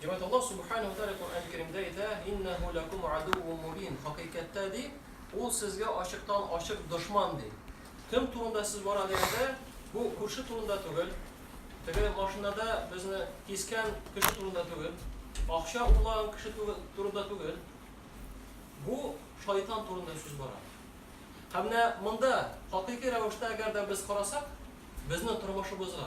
Җәмәт Аллаһ Субхану ва Тааля Коръән Кәримдә әйтә: "Иннаху лакум адувву мубин". Хакыйкатьтә ди, ул сезгә ачыктан ачык дошман ди. Кем турында сез бара дигәндә, бу күрше турында түгел, теге машинада безне кискән кеше турында түгел, акча урлаган кеше турында түгел. Бу шайтан турында сүз бара. Һәм менә монда, хакыйкый рәвештә әгәр дә без карасак, безнең тормышыбызга,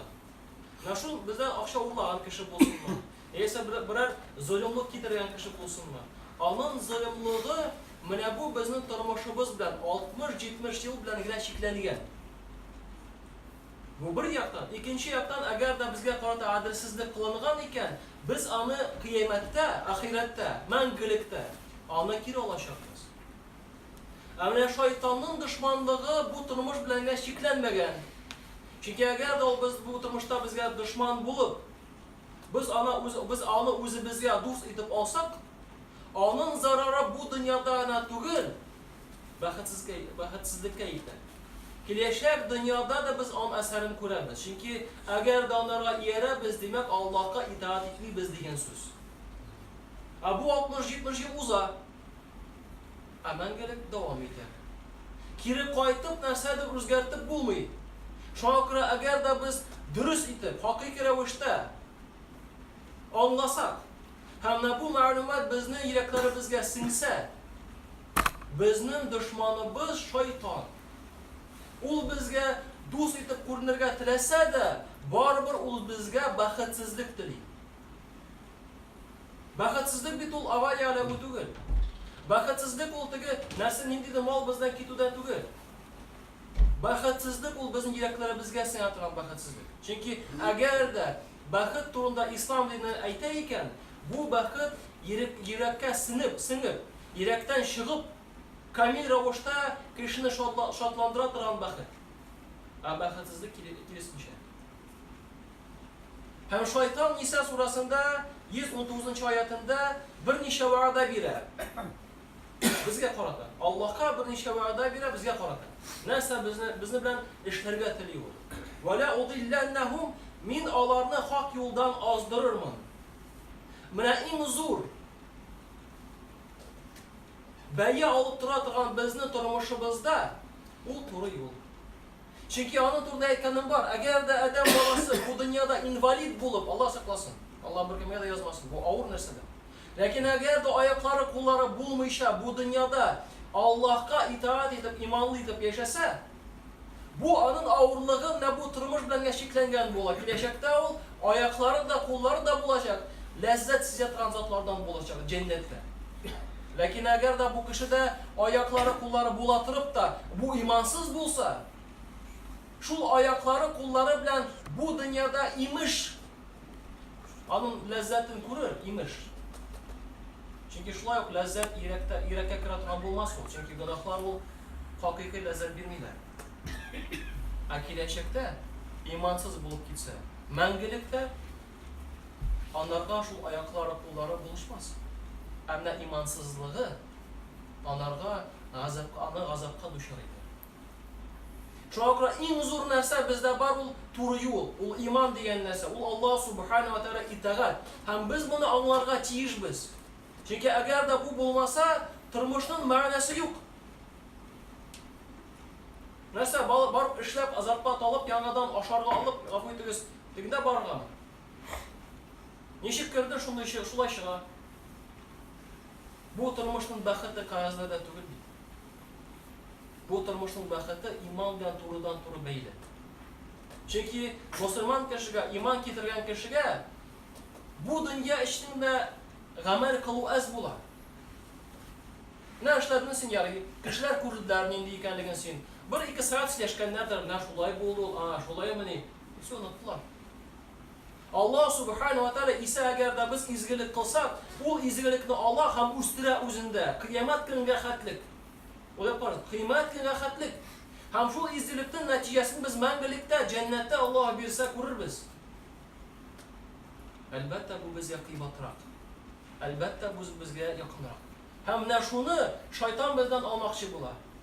менә шул бездән акча урлаган кеше булсынмы, яисә берәр золымлык китергән кеше булсынмы, аның золымлыгы менә бу безнең тормышыбыз белән, 60-70 ел белән генә чикләнгән. Бу бер яктан. Икенче яктан, әгәр дә безгә карата гаделсезлек кылынган икән, без аны Кыямәттә, ахирәттә, мәңгелектә аны кире алачакбыз. Ә менә шайтанның дошманлыгы бу тормыш белән генә чикләнмәгән. Чөнки әгәр дә ул без бу тормышта безгә дошман булып, без аны үз без аны үзебезгә дус итеп алсак, аның зарары бу дөньяда гына түгел, бәхетсезкә бәхетсезлеккә итә. Киләчәк дөньяда да без аның әсәрен күрәбез. Чөнки әгәр дә анарга иярәбез, димәк, Аллаһка итаать итмибез дигән сүз. Ә бу 60-70 ел уза. Ә мәңгелек дәвам итә. Кире кайтып нәрсәдер үзгәртеп булмый. Шуңа күрә әгәр дә без дөрес итеп, хакыйкый рәвештә аңласак һәм менә бу мәгълүмат безнең йөрәкләребезгә сеңсә, безнең дошманыбыз, шайтан. Ул безгә дус итеп күренергә теләсә дә, барыбер ул безгә бәхетсезлек тели. Бәхетсезлек бит ул авария эләгү түгел. Бәхетсезлек ул теге нәрсә ниндидер мал бездән китү дә түгел. Бәхетсезлек ул безнең йөрәкләребезгә сеңә торган бәхетсезлек. Чөнки әгәр дә бәхет турында ислам дине әйтә икән, бу бәхет йөрәккә сеңеп, сеңеп, йөрәктән чыгып, камил рәвештә кешене шатландыра торган бәхет. Ә бәхетсезлек киресенчә. Һәм шайтан Ниса сурасында 119 нчы аятында берничә вәгъдә бирә. Безгә карата. Аллаһка берничә вәгъдә бирә безгә карата. Нәрсә безне безне белән эшләргә тели ул? Вәлә удилләннәһум мин аларны хак юлдан аздырырмын. Менә иң зур бәя алып тора торган безне тормышыбызда ул туры юл. Чөнки аның турында әйткәнем бар, әгәр дә адәм баласы бу дөньяда инвалид булып, Алла сакласын, Алла беркемгә дә язмасын, бу авыр нәрсәдер. Ләкин әгәр дә аяклары, куллары булмыйча бу дөньяда Аллаһка итаать итеп, иманлы итеп яшәсә, бу аның авырлыгы менә бу тормыш белән генә чикләнгән була. Киләчәктә ул аяклары да, куллары да булачак, ләззәт сизә торган затлардан булачак, җәннәттә. Ләкин әгәр дә бу кешедә аяклары-куллары була торып та, бу имансыз булса, шул аяклары-куллары белән бу дөньяда, имеш, аның ләззәтен күрер, имеш. Чөнки шулай ук ләззәт йөрәктә, йөрәккә керә торган булмас ул, чөнки гөнаһлар ул хакыйкый ләззәт бирмиләр. Ә киләчәктә имансыз булып китсә, мәңгелек тә Анарга шул аяклары, куллары булышмас. Ә менә имансызлыгы анарга газапка, аны газапка дучар итәр. Шуңа күрә иң зур нәрсә бездә бар ул туры юл, ул иман дигән нәрсә, ул Аллаһ субхана ва тәгалә итагать. Һәм без моны аңларга тиешбез. Чөнки әгәр дә бу булмаса, тормышның мәгънәсе юк. Нәрсә, барып эшләп, азапка талып, яңадан ашарга алып, гафу итегез, Тегендә барган. Ничек керде, шундый чы- шулай чыга. Бу тормышның бәхете кәгазьләрдә түгел бит. Бу тормышның бәхете иман белән турыдан-туры бәйле. Чөнки мөселман кешегә, иман китергән кешегә бу дөнья өчен дә гамәл кылу әз була. Менә эшләрден син ярый, кешеләр күрделәр нинди икәнлеген син. Бер-ике сәгать сөйләшкәннәрдер, менә шулай булды ул, а, шулаймыни, Все оныттылар. Аллаһ Субхану ва Тәгалә исә әгәр дә без изгелек кылсак, ул изгелекне ала һәм үстерә үзендә. Кыямәт көненә хәтлек. Уйлап карагыз, кыямәт көненә хәтлек. Һәм шул изгелектен нәтиҗәсен без мәңгелектә, җәннәттә Аллаһ бирсә күрербез. Әлбәттә, бу безгә кыйбатрак. Әлбәттә, бу безгә якынрак. Һәм менә шуны шайтан бездән алмакчы була.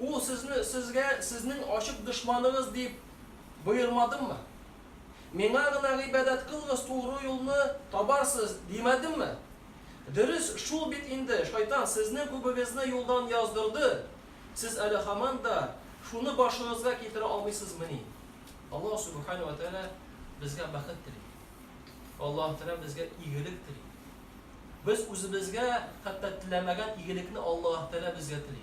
Ул сезне сезгә сезнең ачык дошманыгыз дип боермадыммы? Миңа гына гыйбадәт кылыгыз, тугры юлны табарсыз, димәдемме? Дөрес шул бит инде, шайтан сезнең күбегезне юлдан яздырды, сез әле һаман да шуны башыгызга китерә алмыйсызмыни? Аллаһ Сүбхәнәһү вә Тәгалә безгә бәхет тели. Аллаһ Тәгалә безгә игелек тели. Без үзебезгә хәтта теләмәгән игелекне Аллаһ Тәгалә безгә тели.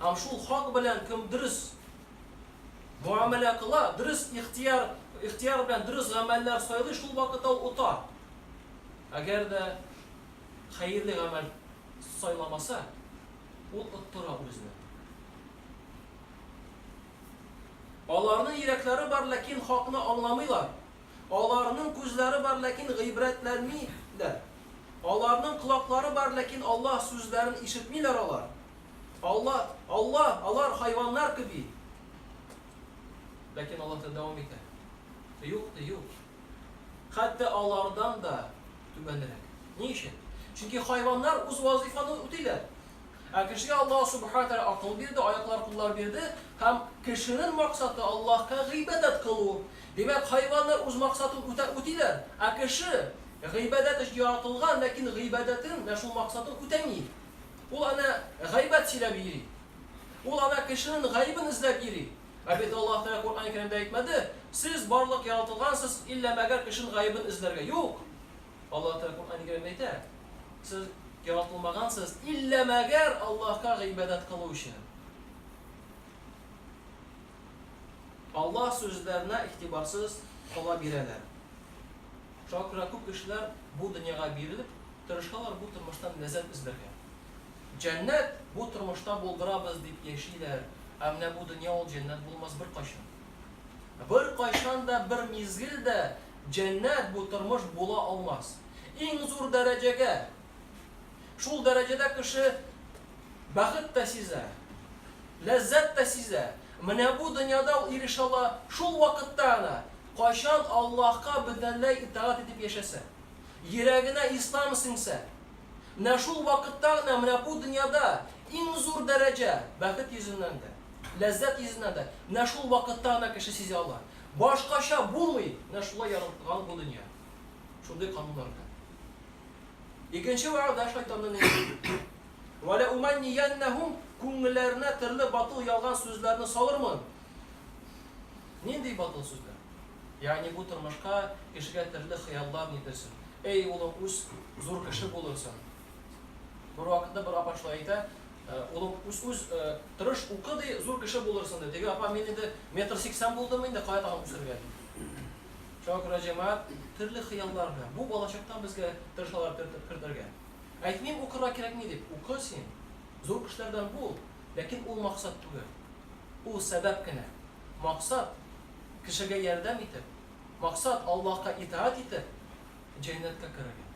Һәм шул хак белән кем дөрес муамәлә кыла, дөрес ихтияр, ихтияр белән дөрес гамәлләр сайлый, шул вакытта ул ота. Әгәр дә хәерле гамәл сайламаса, ул оттыра үзен. Аларның йөрәкләре бар, ләкин хакны аңламыйлар. Аларның күзләре бар, ләкин гыйбрәтләнмиләр. Аларның колаклары бар, ләкин Аллаһ сүзләрен ишетмиләр алар. Аллаһ, Аллаһ, алар хайваннар кеби. Ләкин Аллаһ та дәвам итә. Юк ди, юк. Хәтта алардан да түбәнрәк. Ни өчен? Чөнки хайваннар үз вазыйфаны үтиләр. Ә кешегә Аллаһ Субхана Ва Тәгалә акыл бирде, аяклар-куллар бирде һәм кешенең максаты Аллаһка гыйбадәт кылу. Димәк, хайваннар үз максатын үтә үтиләр, ә кеше гыйбадәт өчен яратылган, ләкин гыйбадәтен менә шул максатын үтәми. Ул әнә гайбәт сөйләп йөри. Ул әнә кешенең гаебен эзләп йөри. Ә бит Аллаһ Тәгалә Коръән-Кәримдә әйтмәде, Сез барлык яратылгансыз, илла мәгәр кешенең гаебен эзләргә. Юк! Аллаһ Тәгалә Коръән-ы Кәримдә әйтә, Сез яратылмагансыз, иллә мәгәр Аллаһка гыйбадәт кылу өчен. Аллаһ сүзләренә игътибарсыз кала бирәләр. Шуңа күрә күп кешеләр бу дөньяга бирелеп, тырышалар бу тормыштан ләззәт эзләргә. Җәннәт бу тормышта булдырабыз дип яшиләр, ә менә бу дөнья ул җәннәт булмас беркайчан. Беркайчан да, бер мизгел дә җәннәт бу тормыш була алмас. Иң зур дәрәҗәгә, шул дәрәҗәдә кеше бәхет тә сизә, ләззәт тә сизә. Менә бу дөньяда ул ирешә ала шул вакытта гына, кайчан Аллаһка бөтенләй итагать итеп яшәсә, йөрәгенә Ислам сеңсә. Менә шул вакытта гына, менә бу дөньяда иң зур дәрәҗә, бәхет йөзеннән дә. Ләззәт йөзенә дә менә шул вакытта гына кеше сизә ала. Башкача булмый, менә шулай яралткан бу дөнья. Шундый кануннар белән. Икенче вәгъдә шайтанның инде. Вәлә уманнияннәһум күңелләренә төрле батыл ялган сүзләрне салырмын. Нинди батыл сүзләр? Ягъни бу тормышка кешегә төрле хыяллар нитерсен. Әй, улым, үс, зур кеше булырсың. Бервакытта бер апа шулай әйтә, Улым, үс-үс, тырыш укы, ди, зур кеше булырсың, ди. Теге апа, мин инде метр сиксән булдым инде, кая тагын үсәргә, ди. Шуңа күрә җәмәгать төрле хыяллар белән, бу балачактан безгә тырышалар кертергә. Әйтмим, укырга кирәкми дип, укы син, зур кешеләрдән бул, ләкин ул максат түгел. Ул сәбәп кенә. Максат, кешегә ярдәм итеп, максат, Аллаһка итаать итеп, җәннәткә керергә.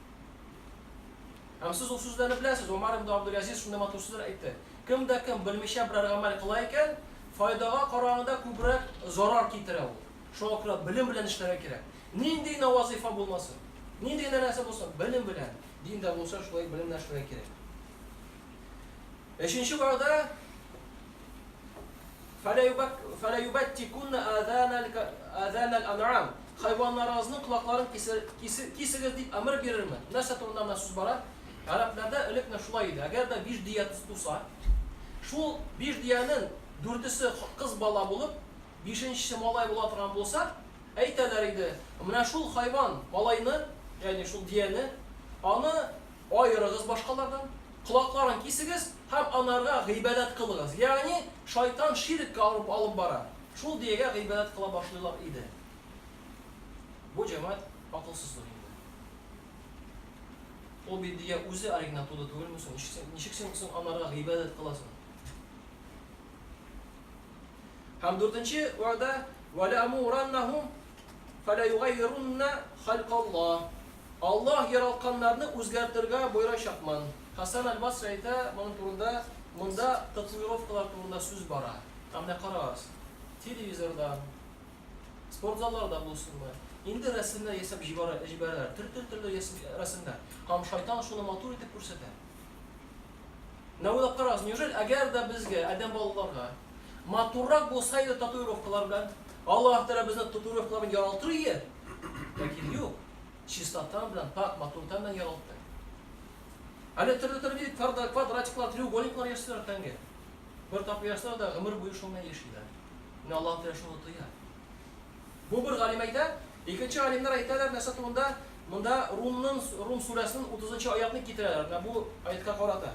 Һәм сез ул сүзләрне беләсез, Омар ибн Абдул-Әзиз шундый матур сүзләр әйтте, Кем дә кем белмичә берәр гамәл кыла икән, файдага караганда күбрәк зарар китерә ул. Шуңа күрә белем белән эшләргә кирәк. Нинди генә вазыйфа булмасын, нинди генә нәрсә булсын, белем белән, дин дә булса, шулай белем белән эшләргә кирәк. Өченче вәгъдә Фәләюбәттикунна азанал азанал анам Хайваннарыгызның колакларын кисегез, дип әмер бирерме? Нәрсә турында гына сүз бара? Гарәпләрдә элек менә шулай иде, әгәр дә биш дөя туса, шул биш дөянең дүртесе кыз бала булып, бишенчесе малай була торган булса, әйтәләр иде, Менә шул хайван, малайны, ягъни шул дөяне, аны аерыгыз башкалардан, колакларын кисегез һәм анарга гыйбадәт кылыгыз, ягъни шайтан ширеккә алып бара. Шул Дөягә гыйбадәт кыла башлыйлар иде. Бу җәмәгать акылсызлык инде. Ул бит Дөя үзе оригинал туды түгелме соң, ничек син соң анарга гыйбадәт кыласың? Һәм дүртенче вәгъдә, Вәләәмураннәһүм фәләюгаййируннә халькаллаһ. Аллаһ яралтканнарны үзгәртергә боерачакмын. Хәсән әл-Басри әйтә моның турында, Монда татуировкалар турында сүз бара. Ә менә карагыз, телевизорда, спортзалларда булсынмы, инде рәсемнәр ясап җибәрәләр, төр-төр-төрле рәсемнәр. Һәм шайтан шуны матур итеп күрсәтә. Менә уйлап карагыз, неужели, әгәр дә безгә, адәм балаларга, Матуррак булса иде татуировкалар белән. Аллаһ Тәгалә безне татуировкалар белән яралтыр ие. Ләкин юк. Чистотан белән, пак матуртан белән яралтты. Әле төрле-төрле квадратиклар, треугольниклар ясыйлар тәңге. Бер тапкыр ясыйлар да гомер буе шуны яшиләр. Менә Аллаһ Тәгалә шуны тоя. Бу бер галим әйтә, икенче галимнәр әйтәләр нәрсә турында? Монда Румның Рум сүрәсенең 30 нчы аятны китерәләр. Менә бу аятка карата.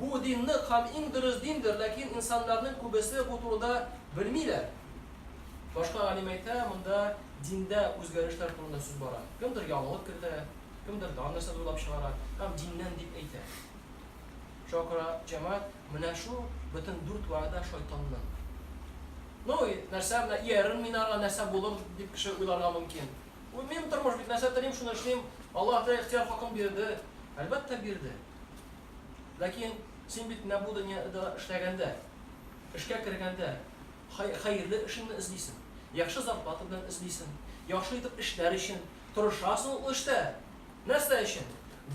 Бу дин нык һәм иң дөрес диндер, ләкин инсаннарның күбесе бу турыда белмиләр. Башка галим әйтә, монда диндә үзгәрешләр турында сүз бара. Кемдер яңалык кертә, кемдер дан нәрсәдер уйлап чыгара һәм диннән дип әйтә. Шуңа күрә җәмәгать, менә шул бөтен дүрт вәгъдә шайтанның. Ну, нәрсә, менә иярермен мин аңа, нәрсә булыр, дип кеше уйларга мөмкин. Бу минем тормыш бит, нәрсә телим, шуны эшлим, Аллаһ та ихтыяр хакын бирде. Әлбәттә, бирде. Ләкин син бит менә бу дөньяда эшләгәндә, эшкә кергәндә хәерле эшеңне эзлисең, яхшы зарплата белән эзлисең, яхшы итеп эшләр өчен тырышасың ул эштә. Нәрсә өчен?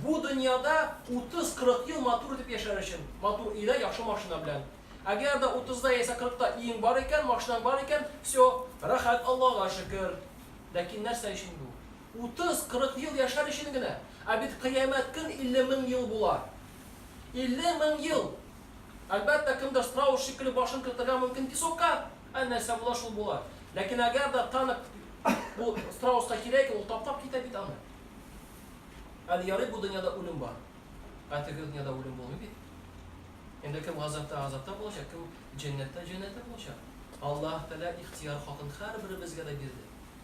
Бу дөньяда 30-40 ел матур итеп яшәр өчен, матур өйдә, яхшы машина белән. Әгәр дә 30-да яисә 40-та өең бар икән, машинаң бар икән, все, рәхәт, Аллага шөкер. Ләкин нәрсә өчен бу? Утыз, кырык ел яшәр өчен генә. Ә бит Кыямәт көн илле мең ел була. Илле мең ел! Әлбәттә, кемдер страус шикелле башын кертергә мөмкин песокка, ә нәрсә була, шул була. Ләкин әгәр дә танк бу страуска кирәк икән, ул таптап китә бит аны. Әле ярый бу дөньяда үлем бар. Ә теге дөньяда үлем булмый бит. Инде кем газапта газапта булачак, кем җәннәттә җәннәттә булачак. Аллаһ Тәгалә ихтыяр хакын һәрберебезгә дә бирде.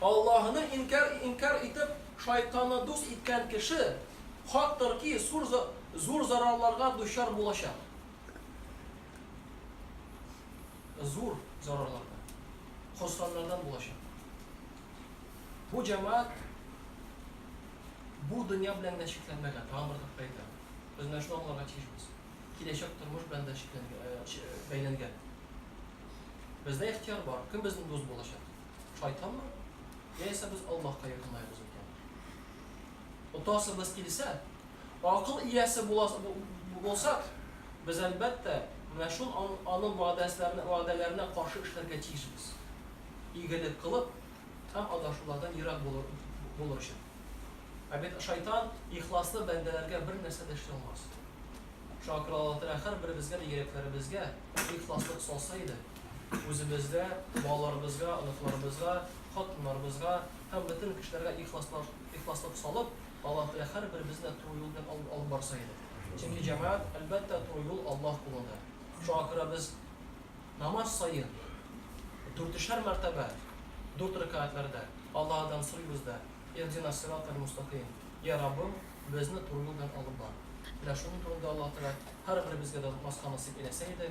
Аллаһыны инкяр инкяр итеп, шайтанны дус иткән кеше хак тыр ки, зур за зур зарарларга дучар булачак. Зур зарарларга. Хосраннардан булачак. Бу җәмәгать бу дөнья белән генә чикләнмәгән, тагын бер тапкыр әйтәм. Без менә шуны аңларга тиешбез. Киләчәк тормыш белән дә чикләнгә э, бәйләнгән. Бездә ихтыяр бар, кем безнең дус булачак? Шайтанмы? Яисә без Аллаһка якынлаябыз икән? Отасыбыз килсә, акыл иясе булсак, без әлбәттә менә шул аның вәгъдәләренә, вәгъдәләренә каршы эшләргә тиешбез. Игелек кылып һәм адашулардан ерак булыр, булыр өчен. Ә бит шайтан ихласлы бәндәләргә бер нәрсә дә эшли алмас. Шуңа күрә Аллаһ Тәгалә һәрберебезгә дә йөрәкләребезгә ихласлык салса иде. үзебезгә, балаларыбызга, оныкларыбызга, хатыннарыбызга һәм бөтен кешеләргә ихласлык салып, Аллаһ Тәгалә һәрберебезне дә туры юл белән алып барса иде. Чөнки җәмәгать, әлбәттә, туры юл Аллаһ кулыдыр. Шуңа күрә без намаз саен дүртешәр мәртәбә, дүрт рәкәгатьләрдә Аллаһыдан сорыйбыз да, Иһдина ссирата л-мустакыйм, Йә Раббым, безне туры юл белән алып бар. Менә шуның турында Аллаһ Тәгалә һәрберебезгә дә онытмаска насыйп әйләсә иде.